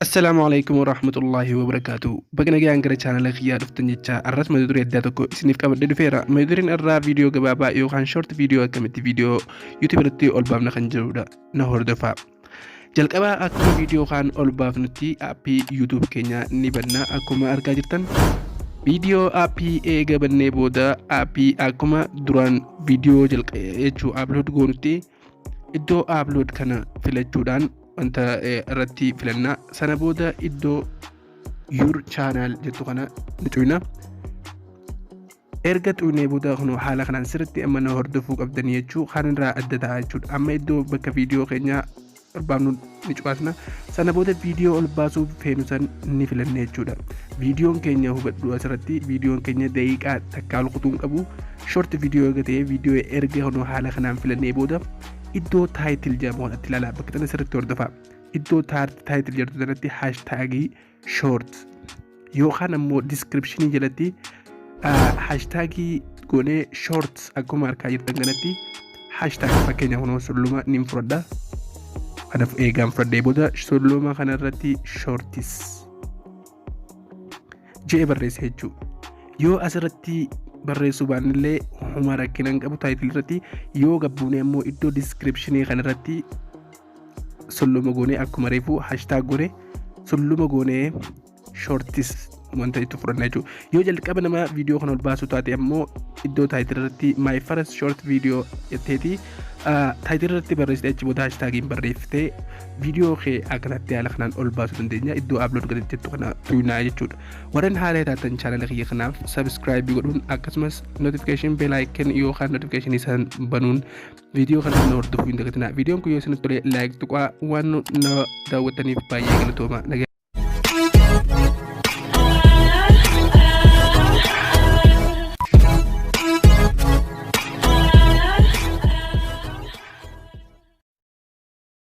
Assalaamu alaikum warahmatullahi wabarakatuh. Baga nagaan gara chaanala kiyyaa dhuftan jecha arras mata duree addaa tokko isiniif qabadhee dhufeera. Mata dureen irraa viidiyoo gabaabaa yookaan short viidiyoo akkamitti viidiyoo YouTube irratti ol baafna kan jedhudha. Na hordofaa. Jalqabaa akkuma viidiyoo kaan ol baafnutti aappii YouTube keenya ni banna akkuma argaa jirtan. Viidiyoo aappii eega bannee booda aappii akkuma duraan viidiyoo jechuu upload goonutti iddoo upload kana filachuudhaan wanta irratti filanna. Sana booda iddoo your channel jettu kana ni cufna. Erga tuqnee booda kunoo haala kanaan sirriitti amma na hordofuu qabdanii jechuu kan irraa adda ta'a jechuudha. Amma iddoo bakka viidiyoo keenya barbaadnu ni cuqaasna. Sana booda viidiyoo ol baasuuf feenu san ni filanna jechuudha. Viidiyoon keenya hubadhu asirratti viidiyoon keenya daqiiqaa takkaa ol kutuu hin qabu. Short viidiyoo erga ta'ee viidiyoo erga kunoo haala kanaan filannee booda iddoo taayitil jedhamu kanatti ilaalaa bakka tana sirriitti hordofaa. Iddoo taayitil jedhu kanatti haashtaagii short yookaan ammoo description jalatti hashtagii goonee short akkuma arkaa jirtan kanatti hashtag fakkeenya kunoo sulluma nin fudhadha kana eegaan fudhadhee booda sulluma kanarratti shortis je'e barreessa jechuu yoo asirratti barreessuu baannillee huma rakkinaan qabu taayitil irratti yoo gabbuunee ammoo iddoo diskiripshinii kanarratti sulluma goonee akkuma reefuu hashtag goone sulluma goonee shortis wanta itti fudhanna jechuudha. Yoo jalqaba nama viidiyoo kana ol baasuu taate ammoo iddoo taayitil irratti my first short video jetteeti taayitil irratti barreessite achi booda hashtaagiin barreessite viidiyoo kee akkanatti haala kanaan ol baasuu dandeenya iddoo upload godhatti jettu kana tuqnaa jechuudha. Warreen haala taatan chaanala kiyya kanaaf subscribe godhuun akkasumas notification bell icon yookaan notification isaan banuun Viidiyoo kana nu hordofuu hin dagatinaa. Viidiyoon kun yoo isinitti tole laayik tuqaa waan nu daawwattaniif baay'ee galatooma. Nagaa.